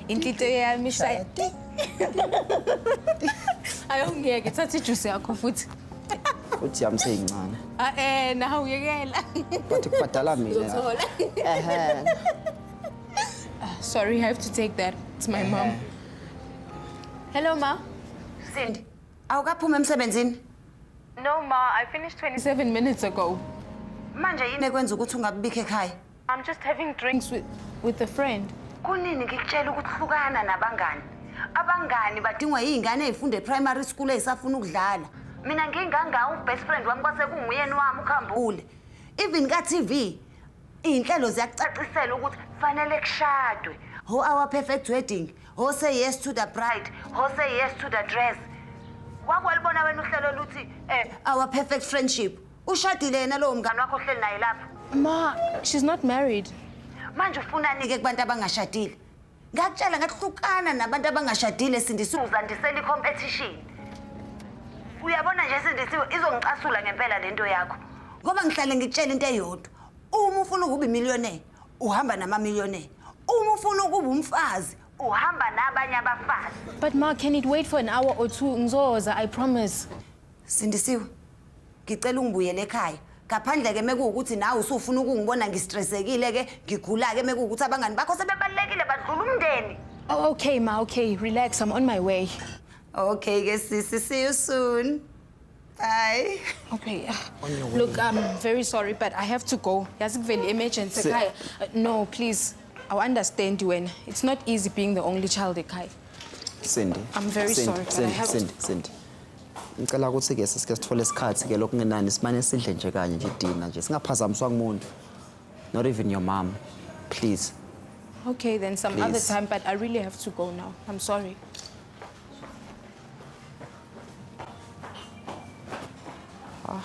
intlityo yami ishaya ti ayongiyeke thatha ijusi yakho futhi futhi yami seyincane ae nawe uyekela but kubhadala mina ehe sorry i have to take that it's my mom hello ma Cindy, Awukaphumi emsebenzini? No ma, I finished 27 minutes ago. Manje yini ekwenza ukuthi ungabibikho ekhaya? I'm just having drinks with, with a friend. Kunini ngikutshela ukuthi hlukana nabangani? Abangani badingwa yingane ezifunde primary school ezisafuna ukudlala. Mina ngingangawo ubest friend wami kwase kunguyeni wami ukhambule. Even ka TV Iy'nhlelo ziyakucacisela ukuthi kufanele kushadwe. Ho our perfect wedding, ho say yes to the bride, ho say yes to the dress. Wakwalibona wena uhlelo oluthi eh our perfect friendship. Ushadile yena lowo mngane wakho ohleli naye lapho. Ma, she's not married. Manje ufunani-ke kubantu abangashadile? ngakutshela ngathi hlukana nabantu abangashadile sindisiwe uzandisela i-competition uyabona nje sindisiwe izongicasula ngempela le nto yakho ngoba ngihlale ngikutshela into eyodwa uma ufuna ukuba imiliyonee uhamba namamiliyonee uma ufuna ukuba umfazi uhamba nabanye abafazi but ma can it wait for an hour or two ngizoza i promise Sindisiwe, ngicela ungibuyele ekhaya. Ngaphandle ke mekuwukuthi nawe usufuna ukungibona ngistressekile ke, ngigula ke mekuwukuthi abangani bakho sebebalekile badlula umndeni. Oh, okay, ma, okay. Relax, I'm on my way. Okay ke sisi, see you soon. Bye. Okay. uh, Look, I'm very sorry, but I have to go. Yazi kuvele emergency Se- ekhaya. Uh, No, please. I understand wena. It's not easy being the only child ekhaya. Cindy. I'm very Cindy, sorry, but I Cindy, have to- Cindy, Cindy. Ngicela ukuthi-ke sisike sithole isikhathi-ke lokungenani simane sidle nje kanye nje idina nje singaphazamiswa kumuntu not even your mom please Okay, then some Please. other time, but I really have to go now. I'm sorry. Ah.